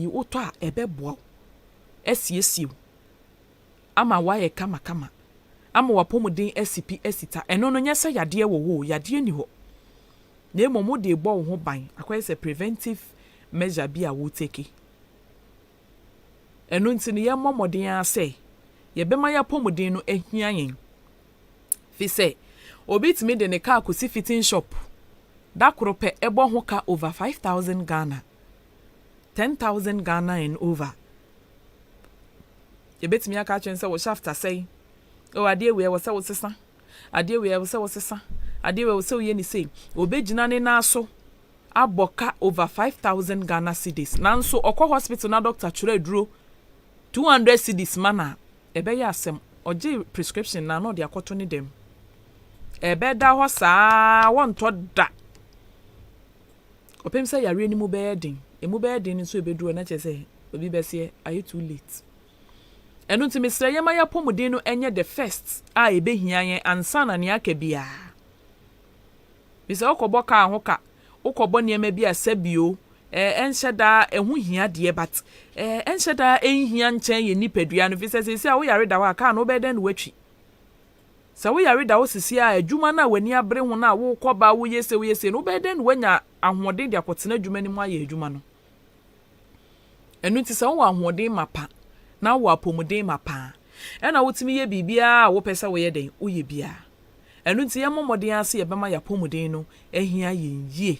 Yi wo tɔ a ɛbɛboa wo asiesie wo ama woayɛ kamakama, ama w'apɔmuden asi pi asi ta. Ɛno no, nyɛ sɛ yadeɛ wɔ hɔ o, yadeɛ nni hɔ, na mmom wode rebɔ wo ho ban, akɔyɛ sɛ preventive measure bi a woretake. Ɛno nti no, yɛmmɔ mmɔden ara sɛ yɛbɛma yɛn apɔmuden no ahia yɛn. Fi sɛ, obi tumi de ne kaa kɔsi fitting shop da koro pɛ, ɛbɔ ho ka over five thousand Ghana. ten thousand Ghana and over yɛbɛtumi aka akyerɛ no sɛ wo shaft asɛe o adeɛ wei ɛwɔ sɛ wo sesa adeɛ wei ɛwɔ sɛ wo sesa adeɛ wei ɛwɔ sɛ woyɛ ne sei wɔbɛgyina ne nan so abɔ ka over five thousand Ghana cedis nanso ɔkɔ hospital na doctor twerɛ aduro two hundred cedis ma na ɛbɛyɛ asɛm ɔgye prescription na na ɔde akɔto ne dɛm ɛbɛda hɔ saa wɔntɔ da Kɔpem sɛ yareɛ no mu bɛyɛ den, ɛmu bɛyɛ den no nso ɛbɛduru hɔ no na kyerɛ sɛ obi bɛseɛ, ayɛ too late. Ɛno nti mesrɛ yɛmma yɛn apɔmuden no nyɛ the first a ɛbɛhia yɛn ansa na nea aka biara. Bi sɛ wokɔbɔ kaa ho ka, wokɔbɔ nneɛma bi a sɛ bio ɛɛ ɛnhyɛ da ɛho hia deɛ but ɛɛ ɛnhyɛ da ɛnhia nkyɛn yɛn nipadua no, ɛfiri sɛ seesei a wo yare da hɔ a kaa no wobɛyɛ dɛn na woatwi? Sɛ wo yare da hɔ sese ara a, adwuma no a w'ani abere ho no a worekɔ ba, woyɛ sei, woyɛ sei no, wobɛyɛ dɛn na woanya ahoɔden de akɔtena adwuma no mu ayɛ adwuma no? Ɛno nti, sɛ wowɔ ahoɔden mapa na wowɔ apɔmuden mapa a, ɛnna wotumi yɛ biribiara a wopɛ sɛ woyɛ dɛn, woyɛ biara. Ɛno nti, yɛmmɔ mmɔden ara sɛ yɛbɛma yɛn apɔmuden no ahia yɛn yie.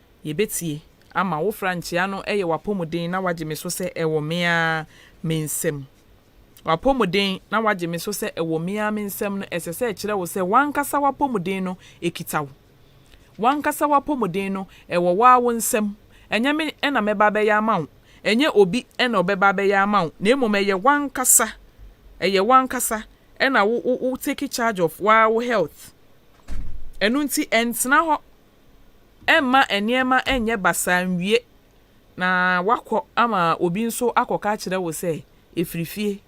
Yebetie, ama wo fra nkyia no yɛ w'apɔmuden na woagye me so sɛ ɛwɔ me ara me nsam. W'apɔmuden na woagye me so sɛ ɛwɔ me ara me nsam no, ɛsɛ sɛ ɛkyerɛ wo sɛ w'ankasa w'apɔmuden no kita wo. W'ankasa w'apɔmuden no wɔ wo ara wo nsam. Ɛnyɛ me na mɛba abɛyɛ ama wo, ɛnyɛ obi na ɔbɛba abɛyɛ ama wo, na mmom ɛyɛ w'ankasa, ɛyɛ w'ankasa na wo wo take charge of wo ara wo health. Ɛno nti ɛntena hɔ ɛmma nneɛma nyɛ basaa nwie na woakɔ ama obi nso akɔka akyerɛ wo sɛ ɛfiri fie,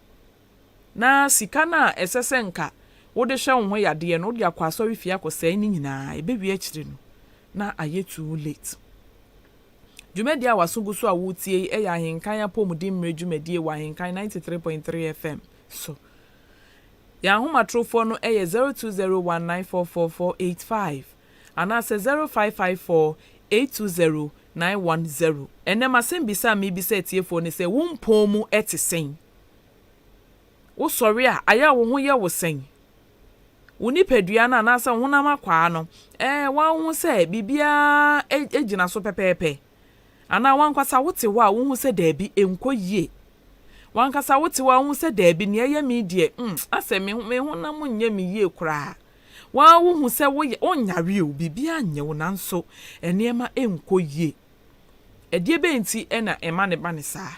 na sika no a ɛsɛ sɛ nka wode hwɛ wo ho yadeɛ no, wode akɔ asɔrefie akɔsɛe ne nyinaa. Ɛbɛwie akyire no, na ayɛ too late. Dwumadie a w'aso gu so a woretie yi yɛ Ahenkan Apɔmuden Mmerɛ Dwumadie wɔ Ahenkan 93.3 FM so. Yɛn ahomatorofoɔ no yɛ 0201944485. Anaasɛ 0554820910. Ɛnnɛ m'asɛmbisa a mebisa atiefoɔ ne sɛ, wo mpɔn mu te sɛn? Wo sɔre a, ayɛ a wo ho yɛ wo sɛn? Wo nipadua no anaasɛ wo honam akwaa no, ɛɛ, woahu sɛ biribiara gyina so pɛpɛɛpɛ? Anaa w'ankasa wote hɔ a wuhu sɛ dabi, ɛnkɔ yie? W'ankasa wote hɔ a wuhu sɛ dabi, nea ɛyɛ me yi deɛ, mm, asɛ me, me honam nyɛ me yie koraa. Wo ara wuhu sɛ woyɛ, wonyare o, biribiara nyɛ wo, nanso nneɛma nkɔ yie. Ɛdeɛbɛn nti na ɛma no ba no saa?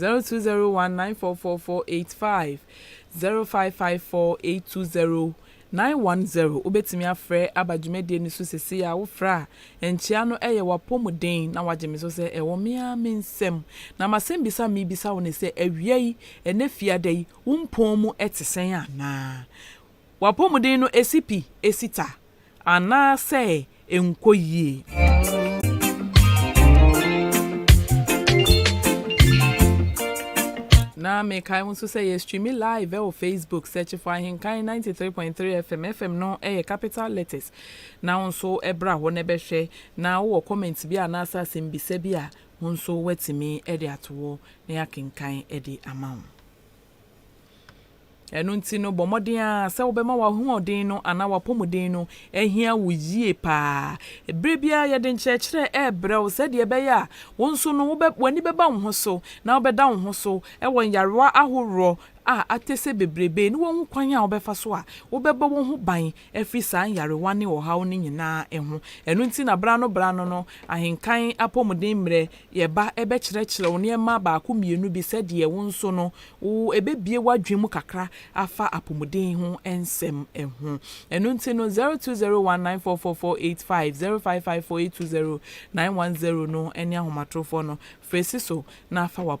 zero two zero one nine four four four eight five zero five five four eight two zero nine one zero wobɛtumi afrɛ aba dwumadie no so sese a wofrɛ a nkyea no ɛyɛ wapɔmuden na wagye me so sɛ ɛwɔ mmea me nsɛm na masɛm bisa me bisa wo ne sɛ awia yi ɛnɛ fiada yi Wo mpɔn mu te sɛn anaa? W'apɔmuden no si pi, si ta, anaasɛ ɛnkɔ yie? Na mekae wo nso sɛ yɛ streami live ɛwɔ eh, Facebook search for Ahenkan 93.3 FM FM no ɛyɛ eh, capital letters na wo nso ɛbra eh, hɔ na ɛbɛhwɛ na wowɔ comment bi anaasɛ asɛmbisa bi a wo nso woatumi ɛde ato hɔ na yɛakenkan ɛde ama wo. Ɛno nti no, bɔ mmɔden ara sɛ wobɛma w'ahoɔden no anaa w'apɔmuden no ahia wo yie paa. Berɛ biara yɛde nkyerɛkyerɛ rebrɛ wo sɛdeɛ ɛbɛyɛ a wo nso no wobɛ w'ani bɛba wo ho so na wobɛda wo ho so wɔ nyarewa ahoroɔ a atɛ sɛ bebrebe na woahu kwan a wobɛfa so a wobɛbɔ wo ho ban afiri saa nyarewa ne ɔhaw no nyinaa ho. Ɛno nti na berɛ ano berɛ ano no, Ahenkan Apɔmuden Mmerɛ yɛba bɛkyerɛkyerɛ wo nneɛma baako mmienu bi sɛdeɛ wo nso no wo ɛbɛbue w'adwene mu kakra afa apɔmuden ho nsɛm ho. Ɛno nti no 0201944485, 0554820910 no ne ahomatorofoɔ no frɛ si so na fa w'apɔmuden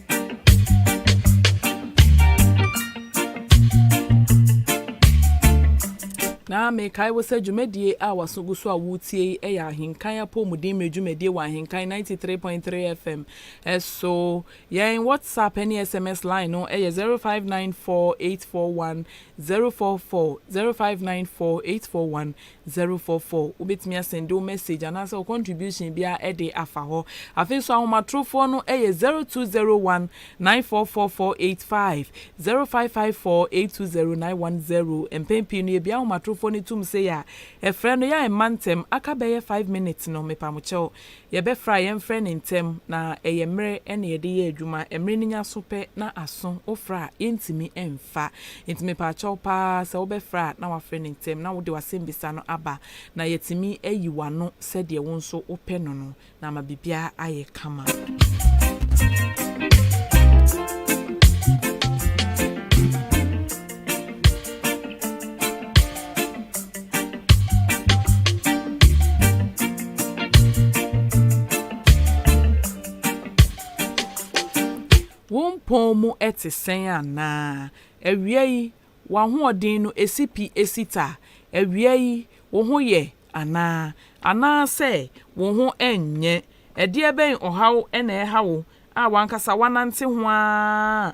Na mekae wo sɛ dwumadie a waso gu so a woretie yi yɛ Ahenkan Apɔmuden Mmerɛ dwumadie wɔ Ahenkan 93.3 FM so. Yɛn WhatsApp ne SMS line no yɛ 0594841044, 0594841044. zero four four Wobɛtumi asɛnde wo mɛsage anaasɛ wo kɔntribiuhyin biara de afa hɔ. Afei nso ahomatorofoɔ no yɛ zero two zero one nine four four four eight five, zero five five four eight two zero nine one zero. Mpɛn pii no yɛbue ahomatorofoɔ no tum sei a, ɛfrɛ no yɛ a ɛmma ntɛm, aka bɛyɛ five minutes no, mepamokyɛw Yɛbɛfrɛ a yɛmfrɛ no ntɛm na ɛyɛ mmere na yɛde yɛ adwuma. Mmere no nya so pɛ na aso. Wofrɛ a yɛntumi mfa. Enti mepaa kyɛw paa sɛ wobɛfrɛ a na wafrɛ no ntɛm na wode w'asɛmbisa no aba na yɛatumi ayi w'ano sɛdeɛ wo nso wopɛ no no na ama biribiara ayɛ kama. Wo mpɔn mu te sɛn anaa? Awia yi, w'ahoɔden no si pi si ta? Awia yi, wo ho yɛ anaa? Anaasɛ wo ho nyɛ? Ɛdeɛbɛn ɔhaw na ɛreha wo a w'ankasa woanante ho ara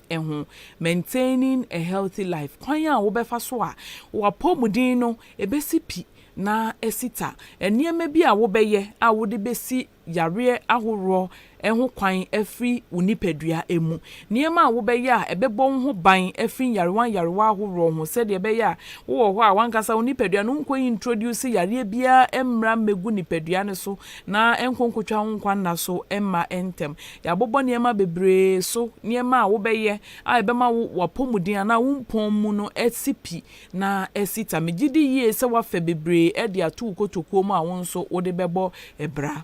ho, Maintaining a Healthy Life, Kwan a Wobɛfa so a W'apɔwmuden no Besi Pi na Asi Ta, Nneɛma bi a Wobɛyɛ a Wode Besi Yareɛ Ahoroɔ ho Kwan Afiri Wo Nipadua Mu, Nneɛma a Wobɛyɛ a Ɛbɛbɔ Wo ho Ban Afiri Nyarewa Nyarewa Ahoroɔ Ho, Sɛdeɛ Ɛbɛyɛ a Wowɔ Hɔ a W'ankasa Wo Nipadua no Nkɔ Introduce Yareɛ Biara Mmra Mmɛgu Nipadua no So na Ɛnkɔ Nkotwa Wo Nkwa Nna So Mma Ntɛm, Yɛabobɔ nneɛma bebree so, nneɛma a wobɛyɛ a ɛbɛma wo w'apɔmuden anaa wo mpɔn mu no asi pi na asi ta. Migye di yiye sɛ woafa bebree de ato wo kotokuo mu a wo nso wode bɛbɔ bra.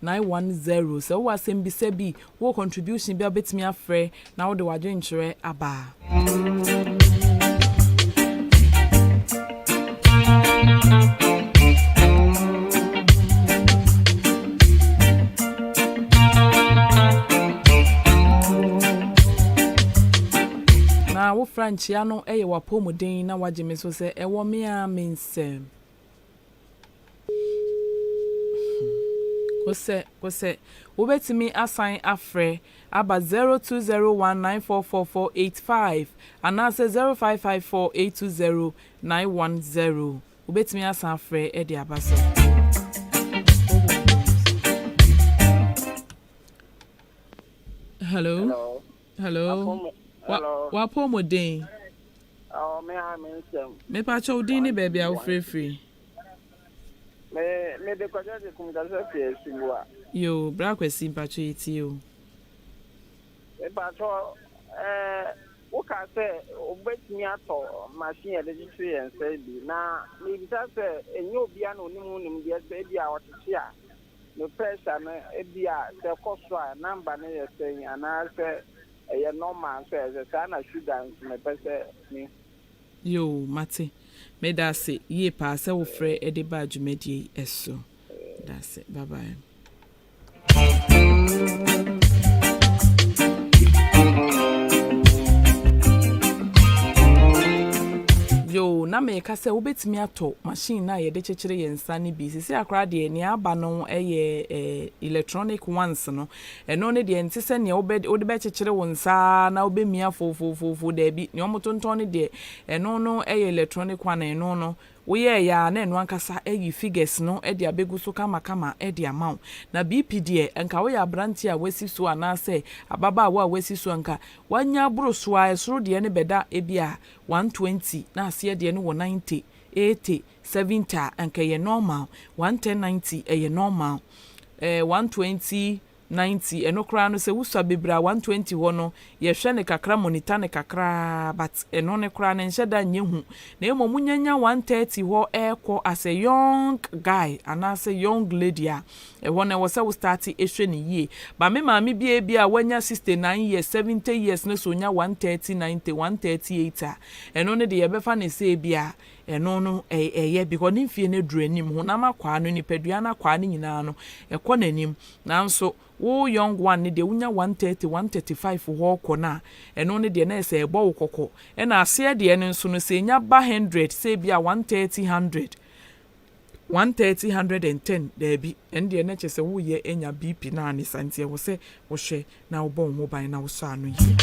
Nine one zero Sɛ wowɔ asɛmbisa bi, wowɔ contribution bi a wobɛtumi afrɛ na wode w'adwenkyerɛ aba. Na wofra nkyia no yɛ w'apɔmuden na wagye me so sɛ ɛwɔ me ara me nsam. Kosɛ kosɛ Wobɛtumi asan afrɛ aba 0201944485 anaasɛ 0554820910. Wobɛtumi asan afrɛ de aba so. Hello. Hello. Hello, w'apɔmuden. Ɔɔ, me ha me nsɛm. Mepakyɛ wo din ne baabi a wofirefiri. Me, me de kɔjɔ de kum kasa fi esubua. Yo, bra kwasi mpakyɛ yi ti yo. Mepakyɛ, ɛɛ, woka sɛ wobɛtumi atɔ machine yɛde kyekye yɛn nsa bi, na mebisa sɛ ɛnyɛ obia na onim ho nimdeɛ sɛ ebi a ɔkyekye a. Me pressure no ebia sɛ ɛkɔ so a number no yɛ sɛn anaa sɛ ɛyɛ normal nso a ɛsɛ saa na sugar nso mepɛ sɛ me hu. Yoo, mate. Meda ase yie paa sɛ wofrɛ de baa dwumadie yi so. Meda ase. Bye bye. Yoo, na mereka sɛ wobɛtumi atɔ machine no a yɛde kyekyere yɛn nsa no bi. Seesei koraa deɛ, nea aba no yɛ electronic ones no. Ɛno no deɛ, ɛnte sɛ nea wobɛ, wode bɛkyekyere wo nsa ara na wobɛmia foofoofoo, daabi. Nea wɔtontɔn no deɛ, ɛno no yɛ electronic one, na ɛno no, woyɛeɛ ara na ɛno ankasa ayi figures no de abɛgu so kamakama de ama wo. Na BP deɛ, anka woyɛ aberanteɛ a woasi so anaasɛ ababaawa a woasi so a, anka woanya aboro so ara, ɛsoro deɛ no bɛda ebia 120 na aseɛ deɛ no wɔ 90, 80, Seventy a anka ɛyɛ normal, one ten ninety ɛyɛ normal, eh, one twenty ninety ɛno koraa no sɛ wosua bebree a one twenty hɔ no yɛhwɛ no kakra monitor no kakra but ɛno no koraa no nhyɛ da nyɛ hu na mmom wonyanya one thirty hɔ ɛrekɔ as a young guy anaasɛ young lady a ɛhɔ no ɛwɔ sɛ wo start ehwɛ no yie ba me maame bi ebi a wanya sixty nine years seventy years no so onya one thirty ninety one thirty eight a ɛno no de yɛbɛfa no sɛ ebi a Ɛno no ɛyɛ because ne mfeɛ no aduru anim, honam akwaa no, nipadua no akwaa no nyinaa no ɛkɔ n'anim. Nanso wo young one no deɛ wonya one thirty, one thirty five hɔ rekɔ no a, ɛno no deɛ na ɛsɛ sɛ ɛbɔ wo kɔkɔ. Ɛna aseɛ deɛ no nso no sɛ ɛnya ba hundred, sɛ ebia one thirty, hundred, One thirty hundred and ten daabi ɛndeɛ na kyerɛ sɛ woyɛ anya BP no aane sa nti ɛwɔ sɛ wohwɛ na wobɔ wo ho ban na wosɔ ano yie.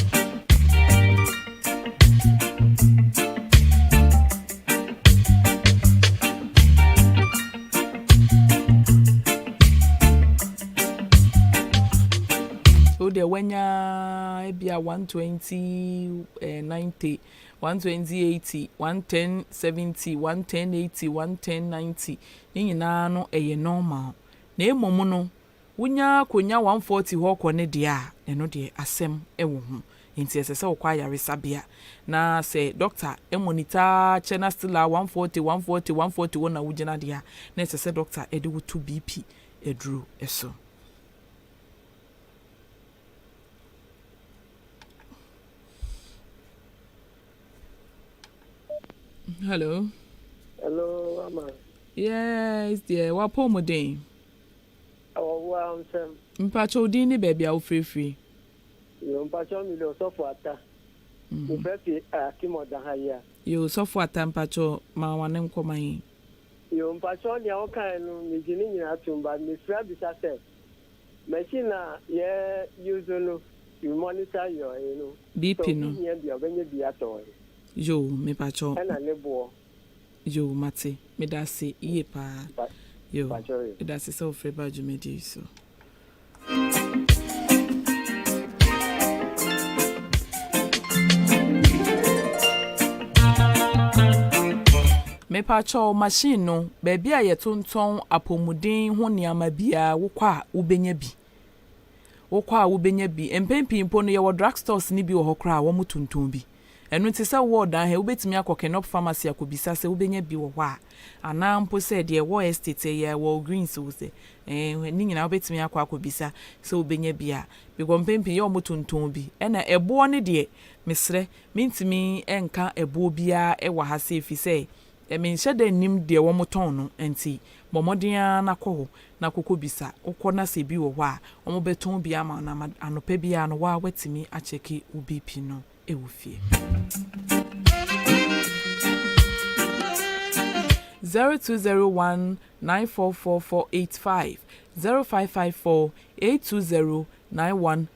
Wode wanya ebia one twenty eh ninety one twenty eighty, one ten seventy, one ten eighty, one ten ninety, ne nyinaa no ɛyɛ normal. Na mmom no wonya kɔnya one forty hɔ kɔ ne deɛ a, ɛno deɛ asɛm wɔ ho. Nti ɛsɛ sɛ wokɔ ayaresabea na sɛ dɔkta mɔnita kyɛ na still a one forty, one forty, one forty hɔ na wogyina deɛ a, na ɛsɛ sɛ dɔkta de wo to BP aduro so. Hello. Hello, Mama. Yes, dear. Wapo mu den. Awawa nsɛm. Mpakyɛ odin ne baabi a wofirifiri. Yo mpakyɛ mi de ɔsɔfo ata. Mhm. Mefrɛ fi Akimɔda ha yi a. Yo ɔsɔfo ata mpakyɛ ma wɔn ne nkɔma yi. Yo mpakyɛ nea wokae no megye ne nyinaa tom ba mefiri abisa sɛ Machine a yɛ use no to monitor your he no sɛ obi hia bi a ɔbɛnya bi atɔ he? Yoo me pakyɛ. Ɛna ne boɔ. Yoo mate medase yie paa yoo medase sɛ wofrɛ baa dwumadie yi so. Mepakyɛw machine no baabi a yɛtontɔn apɔwmuden ho nneɛma biara wokɔ a wobenya bi. Wokɔ a wobenya bi. Mpɛn pii mpo no yɛwɔ drug stores no bi wɔ hɔ koraa a wɔtontɔn bi. Ɛno nti sɛ wowɔ ɔdan ha yi wobetumi akɔ Kenop Pharmacy akobisa sɛ wobenya bi wɔ hɔ a anaa mpo sɛ deɛ ɛwɔ estate yi a Walgreens o sɛ ɛɛ ne nyinaa wobetumi akɔ akobisa sɛ wobenya bi a because mpɛn pii yɛ wɔtontɔn bi. Ɛna ɛboɔ no deɛ mesrɛ Mintumi nka ɛboɔ biara wɔ ha sɛ efisɛ menhyɛ da nnim deɛ wɔtɔn no nti, bɔ mmɔden ara na kɔ hɔ na kɔkɔbisa. Wokɔ na sɛ ebi wɔ hɔ a, wɔbɛtɔn bi ama wo na ama anɔpa biara no wo ara woatumi akyɛke wo BP no wɔ fie. Zero two zero one nine four four four eight five zero five five four eight two zero nine one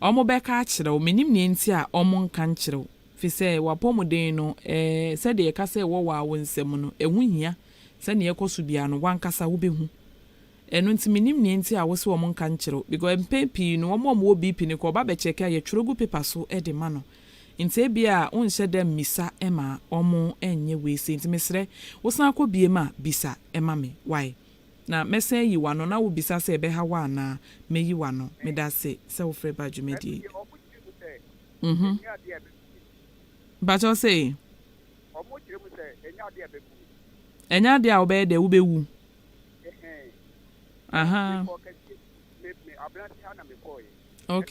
Wɔbɛka akyerɛ wo. Mennim nea enti a wɔnka nkyerɛ wo, efisɛ w'apɔmuden no, ɛɛ, sɛdeɛ yɛka sɛ ɛwɔ wɔ awo nsɛm no, ɛho hia sɛ nea ɛkɔ so biara no, w'ankasa wobɛhu. Ɛno nti, mennim nea enti a wose wɔnka nkyerɛ wo, because mpɛn pii no, wɔn a wɔwɔ BP no, kɔ ɔba bɛkyɛke a, yɛtwerɛ gu paper so de ma no. Nti ebia wonhyɛ da mmisa mma wɔnyɛ wei sei. Nti mesrɛ wo san kɔ biom a, bisa ma me. Wai? Na mɛsan ayi w'ano. Na wobisa sɛ ɛbɛha wo anaa? Mɛyi w'ano. Meda ase sɛ wofrɛ baa dwumadie yi. Mhm. Mpakyɛw sei? Ɛnyɛ adeɛ a wobɛyɛ dɛ, wobɛwu. Ahaa. Ok.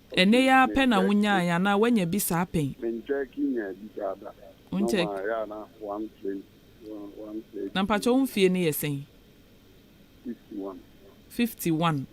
Ɛnnɛ yi ara pɛ na wonyaeɛ anaa woanya bi saa pɛn? Menkyɛɛke nyaa bi saa da. Nɔma a ɛyɛ a na one twenty, one thirty. Na mpakyɛ wo mfeɛ no yɛ sɛn? Fifty one. Fifty one.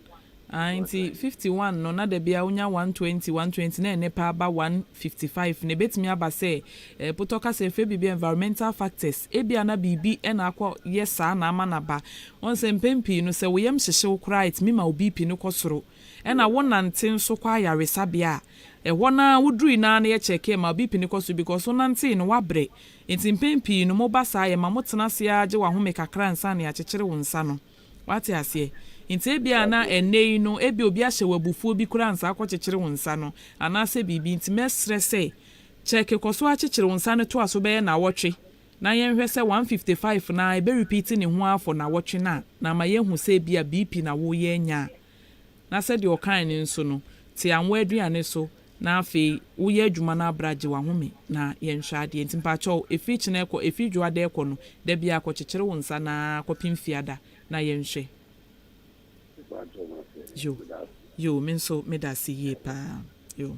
Aah nti fifty one no na da biara wonya one twenty, one twenty na ɛnnɛ pɛ aba one fifty five. Na ɛbɛtumi aba sɛ eh potɔ kasa yɛfrɛ biribi environmental factors. Ebia na biribi na akɔ yɛ saa na ama no aba. Woahu sɛ mpɛn pii no sɛ wo yam hyehye wo koraa a ɛtumi ma wo BP no kɔ soro. Ɛna wo nante nso kɔ ayaresabea a ɛhɔ no ara wodurui no ara no yɛ kyɛkee ma wo BP no kɔ so because wo nantee no wabrɛ nti mpɛn pii no moba saa yɛma mo tena ase ara gye wahome kakra ansa na yɛakyekyere wo nsa no wate aseɛ nti ebia na ɛnnɛ yi no ebia obi ahyɛ wo abufuo bi koraa ansa akɔ kyekyere wo nsa no anaasɛ biribi nti mɛsrɛ sɛ kyɛke kɔ so ara kyekyere wo nsa no toa so bɛyɛ nawɔtwe na yɛnhwɛ sɛ one fifty five no ara ɛbɛ repeat ne ho ara for nnawɔtwe no a, na ama yɛahu sɛ ebia BP na woreyɛ anya a. Na sɛdeɛ ɔkae no nso no, te anwa aduane so na afei woyɛ adwuma no abrɛ a gye w'ahome na yɛnhwɛ adeɛ. Nti mpakyɛw, ɛfiri kyena rekɔ, ɛfiri dwoada rekɔ no, da biara kɔkyekyere wo nsa no ara kɔpem Fiada na yɛnhwɛ. Yo, yo, me nso meda ase yie paa. Yo.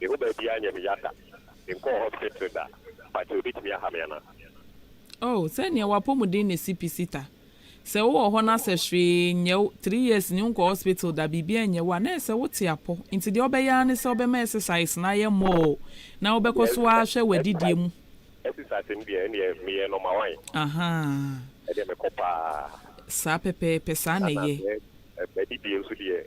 Me ho baabiaa nyɛ me yata me nkɔɔ hopsetre da pakyɛ obetumi aha me ana? Oh sɛnea w'apɔmuden na esi pi sita sɛ wowɔ hɔ na sɛ hwee nyɛ wo three years ni wonkɔ hospital da biribiaa nyɛ wo a na ɛsɛ wote apɔ nti deɛ wobɛyɛ ara ne sɛ wobɛma exercise no ayɛ more na wobɛkɔ so ara hwɛ w'adidie mu. Exercise no deɛ ɛnneɛ meyɛ normal one. Ahaa. Ɛdeɛ mekɔ paa. Saa pɛpɛɛpɛ saa na ɛyɛ. Ɛna sɛ m'adidie nso deɛ.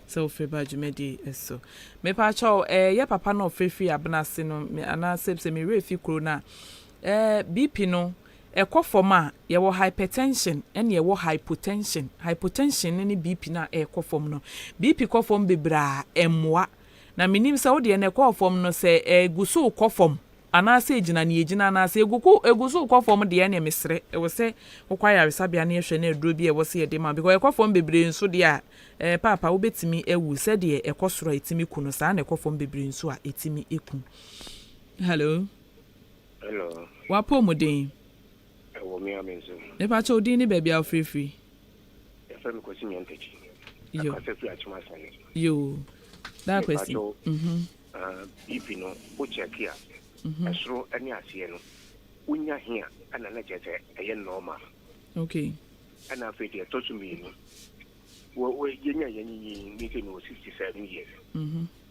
Sɛ wofiri ba dwumadi yi so. Mepa kyɛw, ɛɛ yɛ papa na ɔfiri firi abena ase no, me anaa sɛ, sɛ me werɛ fi kuro no a, ɛɛ BP no, ɛkɔ fam a, yɛ wɔ hypertension ɛna yɛ wɔ hypotension. Hypotension no ne BP no a ɛɛkɔ fam no. BP kɔ fam bebree a, ɛmmoa. Na me nim sɛ wo deɛ no ɛkɔɔ fam no, sɛ ɛɛgu so rekɔ fam Anaasɛ egyina nea egyina anaasɛ egu kɔ egu so kɔ fam deɛ ɛneɛ mesrɛ wɔ sɛ wokɔ ayaresabea na yɛhwɛ na aduro bi a ɛwɔ sɛ yɛde ma wo because ɛkɔ fam bebree nso deɛ a ɛɛ paapa wobɛtumi awu sɛdeɛ ɛkɔ soro a ɛtumi ku no saa na ɛkɔ fam bebree nso a ɛtumi ku hello hello wapɔmuden ɛwɔ me ame nso mepakyɛ odin ne baabi a wofirifiri yɛfrɛ me kwasi nyantakyi akasɛ firi akyem asane yoo daa kwasi mhm Bp no wo check a ɛsoro ne aseɛ no wo nya he a ɛna na kyerɛ sɛ ɛyɛ normal ɛna afei deɛ ɛtɔ so mmienu wo yɛ nya yɛ nyinyi mi sɛ mewɔ 67 years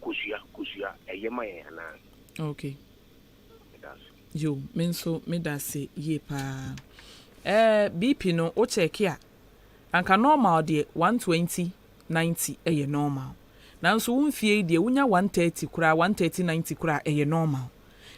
kosua kosua ɛyɛ ma yɛn anaa ok yo me nso me da se yie paa ɛɛ bp no wo check a anka normal deɛ 120 90 ɛyɛ normal Nanso wo mfeɛ yi deɛ wonya one thirty koraa one thirty ninety koraa a ɛyɛ normal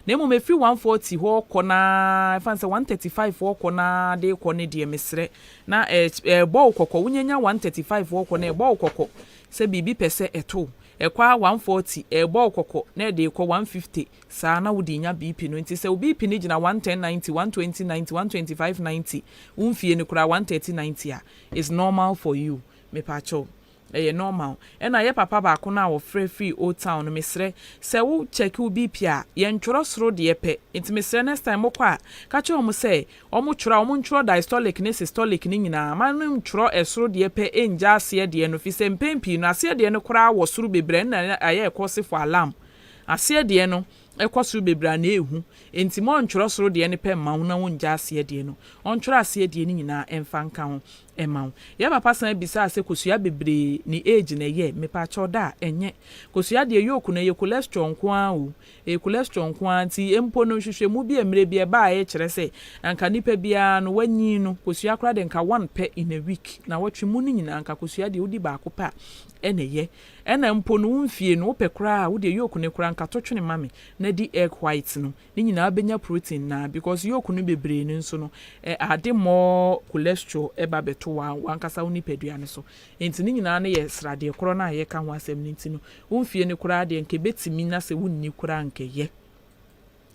na mmom ɛfiri one forty hɔ rekɔ no ara ɛfane sɛ one thirty five hɔ rekɔ no ara de rekɔ no deɛ mesrɛ na ɛrebɔ wo kɔkɔ wonya nya one thirty five hɔ rekɔ no ɛrebɔ wo kɔkɔ sɛ biribi pɛ sɛ ɛto wo ɛkɔ ara one forty ɛrebɔ wo kɔkɔ na ɛde rekɔ one fifty saa na wode nya BP no nti sɛ wo BP no gyina one ten ninety one twenty ninety one twenty five ninety wo mfeɛ no koraa one thirty ninety a is normal for you mepaakyɛw Ɛyɛ normal. Ɛna yɛ papa baako no a wɔfrɛ firi Old Town no mesrɛ sɛ wo check wo BP a, yɛntwerɛ soro deɛ pɛ. Nti mesrɛ next time mokɔ a ka kyerɛ wɔn sɛ wɔn twerɛ a wɔn ntwerɛ diastolic ne systolic no nyinaa mma no ntwerɛ ɛsoro deɛ pɛ nngya aseɛ deɛ no fisɛ mpɛn pii no aseɛ deɛ no koraa wɔ soro bebree ɛna ayɛ cause for alarm. Aseɛ deɛ no kɔ soro bebree a na ɛhu. Nti montwerɛ soro deɛ no pɛ mma wo na wɔnngya aseɛ deɛ no. Wɔntwerɛ aseɛ deɛ no nyinaa mfa nka ho. ɛma wo. Yɛ papa san bisaa sɛ kosua bebree ne age na ɛyɛ mepakyɛw da a ɛnyɛ kosua deɛ yoke no ɛyɛ cholesterol nko ara o ɛyɛ cholesterol nko ara nti mpo no nhwehwɛmu bi a mmerɛ bi ɛbaa a ɛkyerɛ sɛ anka nipa biara no wanyin no kosua koraa deɛ anka one pɛ in a week nawɔtwe mu no nyinaa anka kosua deɛ wodi baako pɛ a ɛna ɛyɛ ɛna mpo no wo mfie no wopɛ koraa a wodeɛ yoke no koraa anka to twene ma me na di egg white no ne nyinaa bɛnya protein na because yolk no bebree no nso no ɛ ade more cholesterol ɛba bɛto wa wankasa wo nipadua no so nti ne nyinaa no yɛ sradeɛ korɔ no a yɛka ho asɛm no nti no wo mfie no koraa deɛ nka ɛbɛtumi na sɛ wonni koraa nka ɛyɛ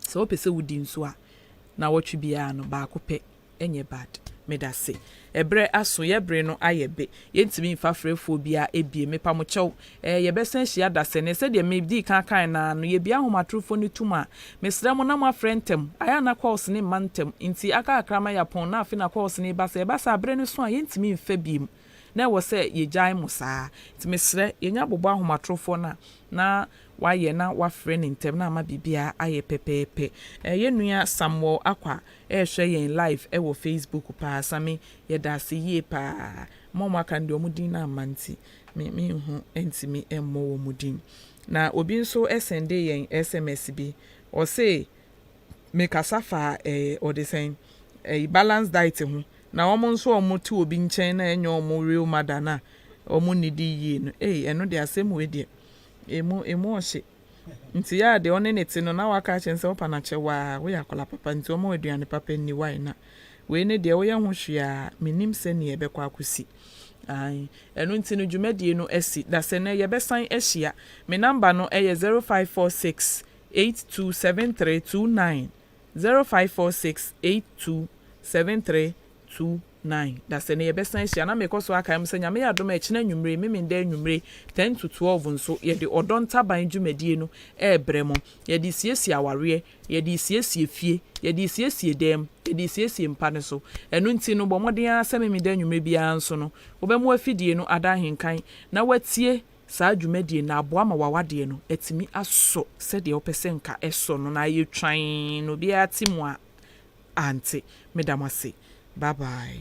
sɛ wopɛ sɛ wodi nso a nawɔtwe biara no baako pɛ Ɛnyɛ bad. Medase. Ɛbrɛ aso. Yɛ bere no ayɛ be. Yɛntumi nfa frɛfoɔ biara ɛbie. Mepa mo kyɛw. Ɛɛ yɛ bɛsan hyia dasɛ nɛ. Sɛdeɛ me dii kan kaeɛ no ara no, yɛ bia ahomatrofoɔ no tum a, mesrɛ mo na mo afrɛ ntɛm. Ayɛ a na calls no mma ntɛm. Nti aka kakra ma yɛ apɔn na afe na calls no reba. Sɛ ɛba saa a bere no so a, yɛntumi nfa biom. na ɛwɔ sɛ yɛgyae mo saa. Nti mesrɛ, yɛnya bobɔ ahomatorofoɔ no a, na wayɛ na wafrɛ no ntɛm na ama biribiara ayɛ pɛpɛɛpɛ. Eh, yɛn nua Samuel Akwa rehwɛ yɛn live wɔ Facebook paa. Same, yɛda ase yie paa. Mo a moaka no deɛ wɔn din no amma nti, me, menhu ntumi mmɔ wɔn din. Na obi nso sɛndee yɛn SMS bi, ɔse, mekasa faa eh ɔde sɛn eh balance diet ho na wɔn nso a wɔn te obi nkyɛn na ɛnyɛ wɔn real mother na wɔn nnidi yie no ei ɛno deɛ asɛm wei deɛ emu emu ɔhye nti yɛ a deɛ ɔne ne te no na waka akyɛ nsɛ ɔpa na kyɛ waa woyɛ akɔla papa nti wɔn aduane papa nni wae na wei ne deɛ woyɛ ho hwee a menim sɛ neɛ ɛbɛkɔ akɔsi ae ɛno nti no dwumadie no asi dasɛ nɛ yɛbɛsan ahyia me namba no ɛyɛ 0546 eight two seven three two nine zero five four six eight two seven three two nine Dasɛ no yɛbɛsan ahyia na mekɔ so akae mo sɛ Nyame yɛ adom a ɛkyena anwummere Memenda anwummere ten to twelve nso yɛde Ɔdɔ Ntaban dwumadie no ɛrebrɛ mo Yɛde resiesie awareɛ Yɛde resiesie fie Yɛde resiesie dan mu Yɛde resiesie mpa no so Ɛno nti no bɔ mmɔden ara sɛ Memenda anwummere biara nso no wobɛmo afidie no ada ahenkan na watie Saa dwumadie no aboa ma w'awadeɛ no atumi asɔ sɛdeɛ wopɛ sɛ nka ɛsɔ no na ayɛ twann na obiara te mu a ante. Meda mo ase. Bye bye.